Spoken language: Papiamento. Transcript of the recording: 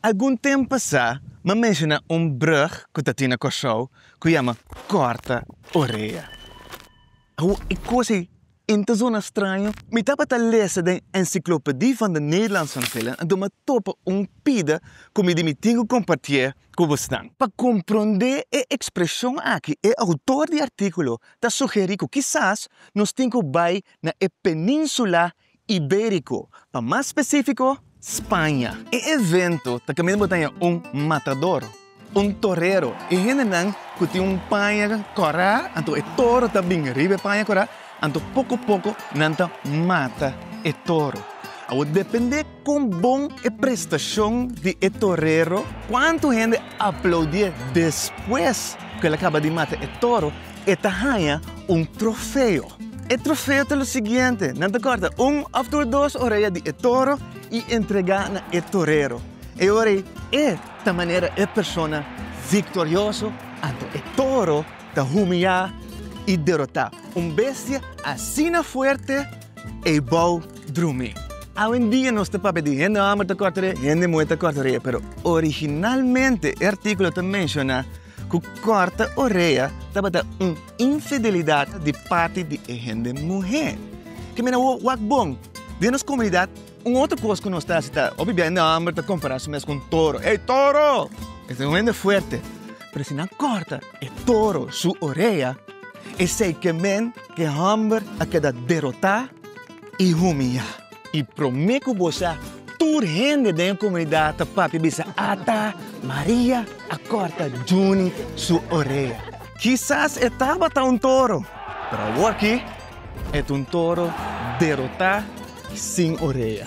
Algun temp pasá m'ha menshoná un brug ku ta tin na Kòrsou ku yama Kòrta Orea. Awo e kos ei in ta zona straño. Mi tabata lesa den Encyclopedie van de Nederlandse Antillen en tur m'a topa un pida ku mi di mi tin ku kompartié ku bosnan. Pa komprondé e ekspreshon aki e outor di artíkulo ta sugerí ku kisas nos tin ku bai na e península Ibérico, pa mas specifico Spaña. E evento ta caminda botaya un matador, un torero, e hendenan cu tin un paña cora, anto e toro ta bin riba e paña cora, anto poco poco nan ta mata e toro. Awor depende. Kon bon e prestashon di e torero! Kuantu hende aploudié despues ku el a kaba di mata e toro, e ta haña un trofeo. E trofeo ta lo siguiente, nan ta kòrta un òf tur dos orea di e toro i entregá na e torero. E ora ei e ta manera e persona viktorioso anto e toro ta humiá i derotá un bestia asina fuerte. Eybou Drumi. Awendia nos ta papia di hende homber ta corta rie, hende muhe ta corta orea, pero originalmente e articulo ta menciona cu corta orea tabata un infidelidad di parti di e hende muhe. Ke mira wak bon, den nos comunidad. Un otro cos cu nos ta haci ta, hopi bende homber ta compara su mes cu un toro. Hey, toro! E ta un hende fuerte. Pero si nan corta e toro su orea, esey ke men cu e homber a keda derota y humiya. Y prome cu bo sa, tur hende den e comunidad ta papia bisa, Ata, Maria a corta Junie su orea. Kisas e tabata un toro, pero awor aki e ta un toro derota. sin orea.